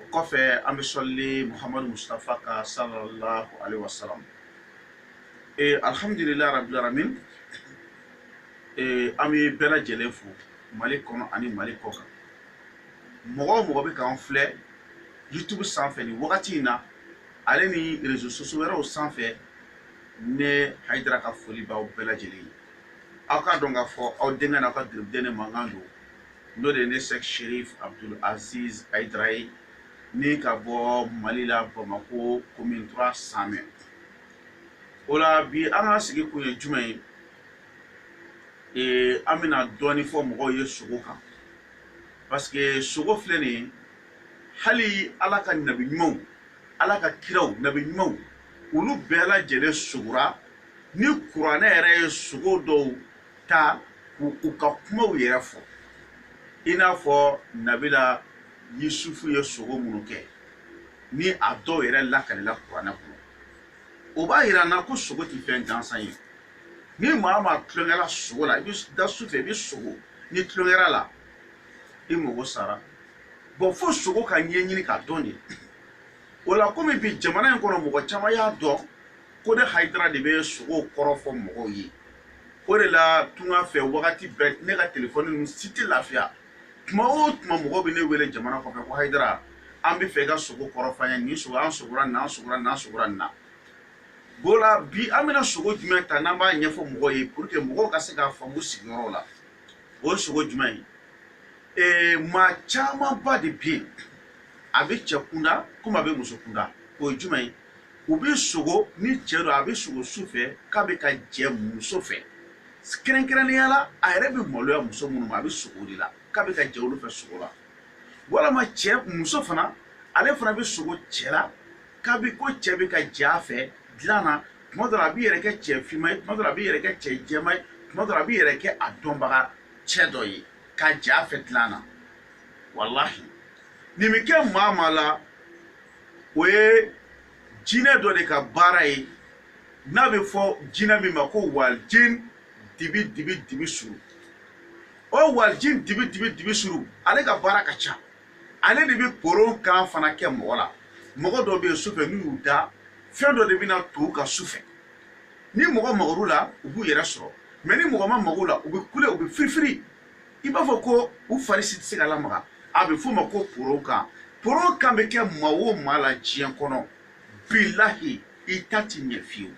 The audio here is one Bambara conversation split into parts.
o kɔfɛ an bɛ sɔli muhamadu mustafa kan sallallahu alaihi wasallam ee alhamdulilayi rabbil alamin ee an bɛ bɛɛ lajɛlen fo mali kɔnɔ ani mali kɔkan mɔgɔ o mɔgɔ bɛ k'an filɛ youtube sanfɛ nin wagati in na ale ni rezo sosiyo wɛrɛw sanfɛ ne hayidara ka foli b'aw bɛɛ lajɛlen ye aw k'a dɔn k'a fɔ aw denkɛ n'aw ka garibuden ne mankan don n'o de ye ne sɛki serifu abudu azizi hayidara ye min ka bɔ mali la bamakɔ commune trois samɛ o la bi an ka sigikun ye jumɛn ye ee an bɛna dɔɔnin fɔ mɔgɔw ye sogo kan parce que sogo filɛ nin ye hali ala ka nabi ɲumanw ala ka kiraw nabi ɲumanw olu bɛɛ lajɛlen sogora ni kuranɛ yɛrɛ ye sogo dɔw ta k'u ka kumaw yɛrɛ fɔ i n'a fɔ nabila yusufu ye sogo minnu kɛ ni a dɔw yɛrɛ lakalila kuranɛ kɔnɔ o b'a yira an na ko sogo tɛ fɛn gansan ye ni maa maa tulon kɛra sogo la i bɛ da su fɛ i bɛ sogo n'i tulon kɛr'a la i mago sara bon fo sogo ka ɲɛɲini k'a dɔn de o la komi bi jamana in kɔnɔ mɔgɔ caman y'a dɔn ko ne hayidara de bɛ sogow kɔrɔ fɔ mɔgɔw ye o de la tunga fɛ wagati bɛɛ ne ka telefɔni ninnu si tɛ lafiya tuma o tuma mɔgɔw bɛ ne wele jamana kɔfɛ ko hayidara an b'a fɛ i ka sogo kɔrɔ fɔ an ye nin sogo an sogora nin na an sogora nin na an sogora nin na o la bi an bɛna sogo jumɛn ta n'an b'a ɲɛfɔ mɔgɔw ye pour que mɔgɔw ka se k'a faamu sigiyɔrɔ la o ye sogo jumɛn ye ee maa camanba de bɛ yen a bɛ cɛ kunda komi a bɛ muso kunda o ye jumɛn ye u bɛ sogo ni cɛ don a bɛ sogo su fɛ k'a bɛ ka jɛ muso fɛ kɛrɛnkɛrɛnnenya la a yɛrɛ bɛ maloya muso minnu ma a bɛ sogo de la k'a bɛ ka jɛ olu fɛ sogo la walama cɛ muso fana ale fana bɛ sogo cɛ la k'a bɛ ko cɛ bɛ ka jɛ a fɛ dilan na tuma dɔ la a b'i yɛrɛ kɛ cɛ finma ye tuma dɔ la a b'i yɛrɛ kɛ cɛ jɛma ye tuma dɔ la a b'i yɛrɛ kɛ a dɔnbaga cɛ dɔ ye ka jɛ a fɛ dilan na walahi nin bɛ kɛ maa maa la o ye jinɛ dɔ de ka baara ye n'a bɛ fɔ jinɛ min ma ko walijin dibi dibi dibi suru o walijin dibi dibi dibi suru ale ka baara ka ca ale de bɛ poron kan fana kɛ mɔgɔ la mɔgɔ dɔ bɛ yen sufɛ n'u y'u da fɛn dɔ de bɛ na to u kan sufɛ ni mɔgɔ magara u la u b'u yɛrɛ sɔrɔ mais ni mɔgɔ ma maga u la u bɛ kule u bɛ firifiri i b'a fɔ ko u fari si tɛ se ka lamaga a bɛ f'o ma ko poro kan poro kan bɛ kɛ maa o maa la diɲɛ kɔnɔ bilahi i ta tɛ ɲɛ fiyewu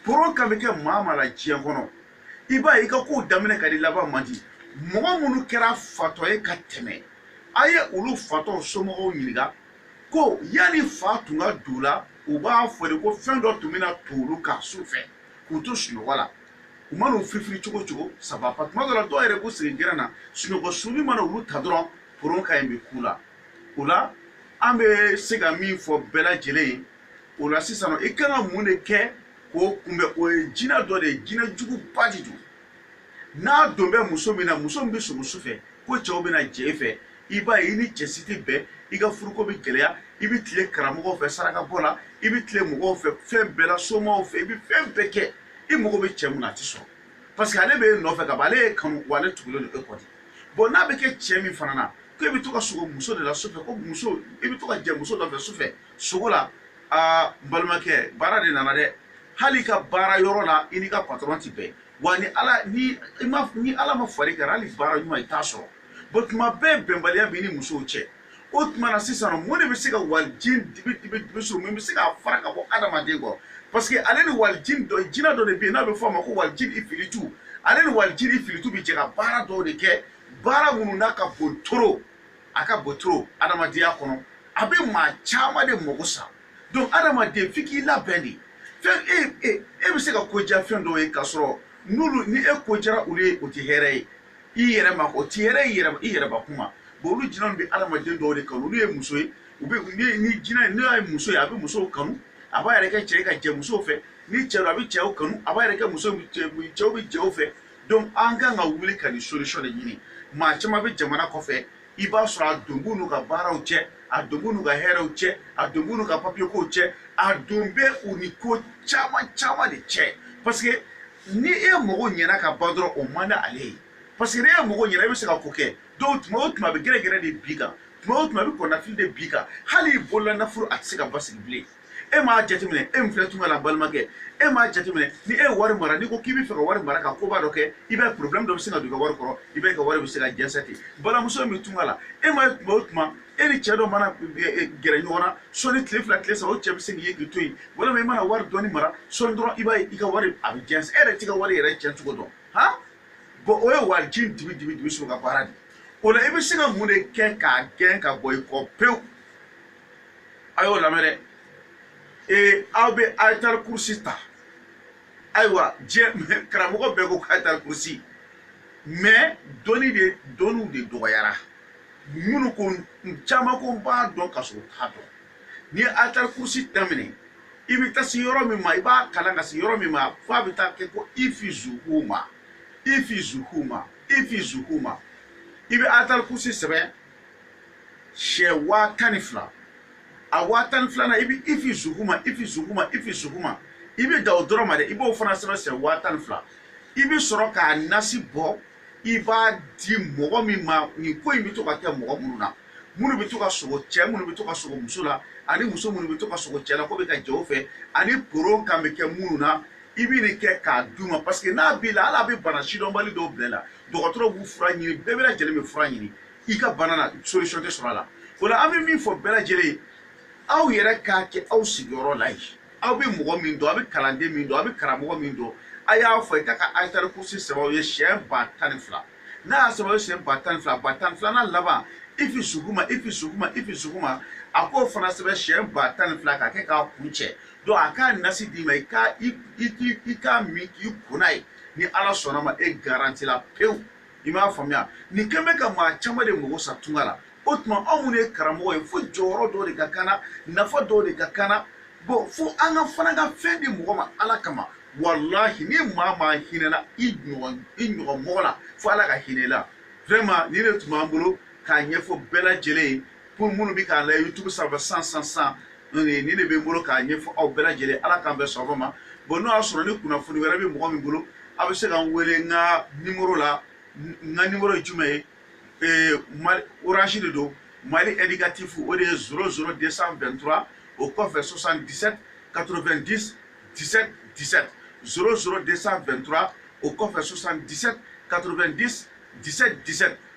poro kan bɛ kɛ maa maa la diɲɛ kɔnɔ i b'a ye i ka kow daminɛ ka di laban man di mɔgɔ minnu kɛra fatɔ ye ka tɛmɛ a ye olu fatɔw somɔgɔw ɲininka ko yanni fa tun ka don u la u b'a fɔ de ko fɛn dɔ tun bɛna to olu kan su fɛ k'u to sunɔgɔ la u mana u firifiri cogo cogo saba pa tuma dɔ la dɔw yɛrɛ b'u sigi gɛrɛn na sunɔgɔ sunni mana olu ta dɔrɔn poro kan in bɛ k'u la o la an bɛ se ka min fɔ bɛɛ lajɛlen ye o la sisan i kan ka mun de kɛ k'o kunbɛn o ye jinɛ dɔ de ye jinɛ juguba de don n'a don bɛ muso min na muso min bɛ sogo su fɛ ko cɛw bɛna jɛ i fɛ i b'a ye i ni cɛ si tɛ bɛn i ka furuko bɛ gɛlɛya i bɛ tile karamɔgɔw fɛ sarakabɔ la i bɛ tile mɔgɔw fɛ fɛn bɛɛ la somaw fɛ i bɛ fɛn bɛɛ kɛ i mago bɛ cɛ min na a tɛ sɔrɔ parce que ale bɛ e nɔfɛ ka ban ale y'e kanu wa ale tugulen don e kɔ de bɔn n'a bɛ kɛ cɛ min fana na ko e bɛ to ka sogo muso de la sufɛ ko muso i bɛ to ka jɛ muso dɔ fɛ sufɛ sogo la aa n balimakɛ baara de nana dɛ hali i ka baara yɔrɔ la i n'i ka patɔrɔn tɛ bɛn wa ni ala ni i ma ni ala ma fari kɛra hali baara ɲuman i t'a sɔrɔ bɔn tuma bɛɛ bɛnbaliya b'i ni musow cɛ o tuma na sisan mun de bɛ se ka walijin dibi dibi dibi so min bɛ se k'a fara ka bɔ adamaden kɔ parce que ale ni walijin dɔ jinɛ dɔ de bɛ yen n'a bɛ fɔ a ma ko walijin ifiritu ale ni walijin ifiritu bɛ jɛ ka baara dɔw de kɛ baara minnu n'a ka bon trop a ka bon trop adamadenya kɔnɔ a bɛ maa caman de mago sa donc adamaden f'i k'i labɛn de fɛn e e e bɛ se ka ko diya fɛn dɔw ye k'a sɔrɔ n'olu ni e ko diyara olu ye o tɛ hɛrɛ ye i yɛrɛ ma o tɛ hɛrɛ i yɛrɛ i yɛrɛ kuma bon olu jinɛw bɛ adamaden dɔw de kanu olu ye muso ye u bɛ ni jinɛ n'i ye muso ye a bɛ musow kanu a b'a yɛrɛ kɛ cɛ ka jɛ musow fɛ ni cɛ a bɛ cɛw kanu a b'a yɛrɛ kɛ muso cɛw bɛ cɛw fɛ donc an kan ka wuli ka nin solution de ɲini maa caman bɛ jamana kɔfɛ i b'a sɔrɔ a don b'u n'u ka baaraw cɛ a don b'u n'u ka hɛrɛw cɛ a don b'u n'u ka papiyekow cɛ a don bɛ u ni ko caman caman de cɛ parce que ni e mago ɲɛna ka ban dɔrɔn o man di ale ye parce que ni e mago ɲɛna e bɛ se ka ko kɛ donc tuma o tuma a bɛ gɛrɛgɛrɛ de bin i kan tuma o tuma a bɛ kɔnɔnafili de bin i kan hali i bolola nafolo a tɛ se ka basigi bilen e m'a jateminɛ e min filɛ tunga la balimakɛ e m'a jateminɛ ni e ye wari mara n'i ko k'i bɛ fɛ ka wari mara ka koba dɔ kɛ i b'a ye problème dɔ bɛ se ka don i ka wari kɔrɔ i b'a ka wari bɛ se ka jɛnsɛ ten balimamuso min tunga la e m'a ye tuma o tuma e ni cɛ dɔ mana e, e, gɛrɛ ɲɔgɔn na sɔni tile fila tile saba o cɛ bɛ se k'i ye k'i to yen walima i mana wari dɔɔni mara sɔni dɔrɔn i b'a ye i ka wari a bɛ jɛnsɛ e yɛrɛ t'i ka wari yɛrɛ cɛn cogo dɔn han bɔn o ye walijin dibi dibi dibi so ka baara de o la i bɛ se ka mun de kɛ k'a gɛn ka bɔ i kɔ pewu a y'o lamɛn dɛ ee aw bɛ ayitali kurusi ta ayiwa diɲɛ karamɔgɔ bɛɛ ko ayitali kurusi mɛ dɔnni de dɔnniw de dɔgɔyara minnu ko caman ko n b'a dɔn ka sɔrɔ u t'a dɔn n'i ye ayitali kurusi daminɛ i bɛ taa se yɔrɔ min ma i b'a kalan ka se yɔrɔ min ma f'a bɛ taa kɛ ko ifi zuguma ifi zuguma ifi zuguma i bɛ ayitali kurusi sɛbɛn siyɛn waa tan ni fila a waa tan ni filanan i bɛ ifi zuguma ifi zuguma ifi zuguma i bɛ dan o dɔrɔn ma dɛ i b'o fana sɛbɛn siyɛn waa tan ni fila i bɛ sɔrɔ k'a nasi bɔ i b'a di mɔgɔ min ma nin ko in bɛ to ka kɛ mɔgɔ minnu na minnu bɛ to ka sogo cɛ minnu bɛ to ka sogo muso la ani muso minnu bɛ to ka sogo cɛ la k'u bɛ ka jɛ u fɛ ani poron kan bɛ kɛ minnu na i bɛ nin kɛ k'a d'u ma parce que n'a b'i la hali a bɛ bana sidɔnbali dɔw bila i la dɔgɔtɔrɔ b'u fura ɲini bɛɛ bɛɛ lajɛlen bɛ fura ɲini i ka bana na solution tɛ sɔrɔ a la o la an bɛ min fɔ bɛɛ lajɛlen ye aw yɛrɛ k'a kɛ aw sigiyɔrɔ la yen aw bɛ mɔgɔ min dɔn aw bɛ kalanden min dɔn aw bɛ karamɔgɔ min dɔn a y'a fɔ i ka ka ayitari kurusi sɛbɛn aw ye siyɛn ba tan ni fila n'a y'a sɛbɛn aw ye siyɛn ba tan ni fila ba tan ni filanan laban ifi suguma ifi suguma ifi suguma a k'o fana sɛbɛn siyɛn ba tan ni fila k'a kɛ k'a kuncɛ donc a k'a nasi d'i ma i ka i i i k'a min k'i ko n'a ye ni ala sɔnna a ma e garanti la pewu i m'a faamuya nin ko in bɛ ka maa caman de mago sa tunga la o tuma anw minnu ye karamɔgɔ ye fo jɔyɔrɔ dɔ de ka k'an na nafa dɔ de ka k'an na bɔn fo an ka fana ka fɛn di mɔgɔ ma ala kama walahi ni maa maa hinɛna i ɲɔgɔn i ɲɔgɔn mɔgɔ la fo ala ka hinɛ i la vraiment nin de tun b'an bolo k'a ɲɛfɔ bɛɛ lajɛlen ye pour minnu bɛ k'an lajɛ youtube sanfɛ san san san nin de bɛ n bolo k'a ɲɛfɔ aw bɛɛ lajɛlen ye ala k'an bɛɛ sɔrɔ ma bon n'o y'a sɔrɔ ni kunnafoni wɛrɛ bɛ mɔgɔ min bolo aw bɛ se ka n wele n ka nimoro la n ka nimoro ye jumɛn ye ee mali orange de don mali indicatif o de ye zéro zéro 223 o kɔfɛ 77 90 17 17 zéro zéro 223 o kɔfɛ 77 90 17 17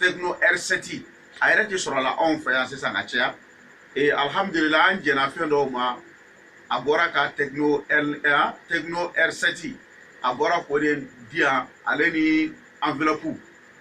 tɛkino ɛrisɛti a yɛrɛ tɛ sɔrɔla anw fɛ yan sisan ka caya ee alihamudulila an jɛnna fɛn dɔw ma a bɔra ka tɛkino ɛri tɛkino ɛrisɛti a bɔra k'o de di yan ale ni anvilɔpu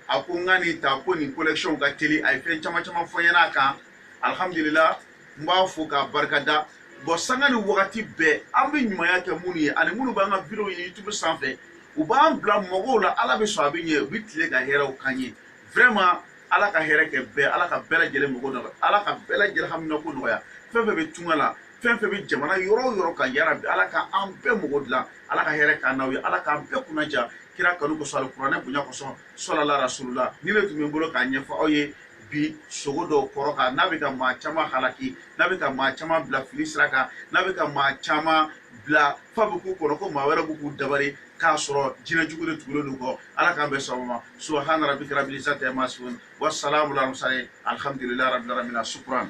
a ko n ka nin ta ko nin konɛkisiyɔnw ka teli a ye fɛn caman caman fɔ n ɲɛna a kan alihamudulila n b'a fo k'a barika da bɔn sanga ni wagati bɛɛ an bɛ ɲumanya kɛ minnu ye ani minnu b'an ka videow ye youtube sanfɛ u b'an bila mɔgɔw la ala bɛ sɔn a bɛ ɲɛ u bɛ tile ka hɛrɛw kan ye vraiment ala ka hɛrɛ kɛ bɛɛ ala ka bɛɛ lajɛlen mako nɔgɔya ala ka bɛɛ lajɛlen haminako nɔgɔya fɛn fɛn bɛ tunga la fɛn fɛn bɛ jamana yɔrɔ o yɔrɔ ka yara bi ala ka an bɛɛ mako dilan ala ka hɛrɛ k'an n'aw ye ala k'an bɛɛ kunnadiya kira kanu kosɔn alikuranɛ bonya kosɔn sɔlala rasulula nin le tun bɛ n bolo k'a ɲɛfɔ aw ye bi sugo dɔw kɔrɔ kan n'a bɛ ka maa caman halaki n'a bɛ ka maa caman bila fili sira kan n'a bɛ ka maa caman bila f'a bɛ k'u kɔnɔ ko maa wɛrɛ bɛ k'u dabari k'a sɔrɔ jinɛ jugu de tugulen don u kɔ ala k'an bɛ sɔgɔma ma subahana rabika rabili izati ama yasifun wa salamu ala murusalin alihamdulilayi rabili alamina sukuran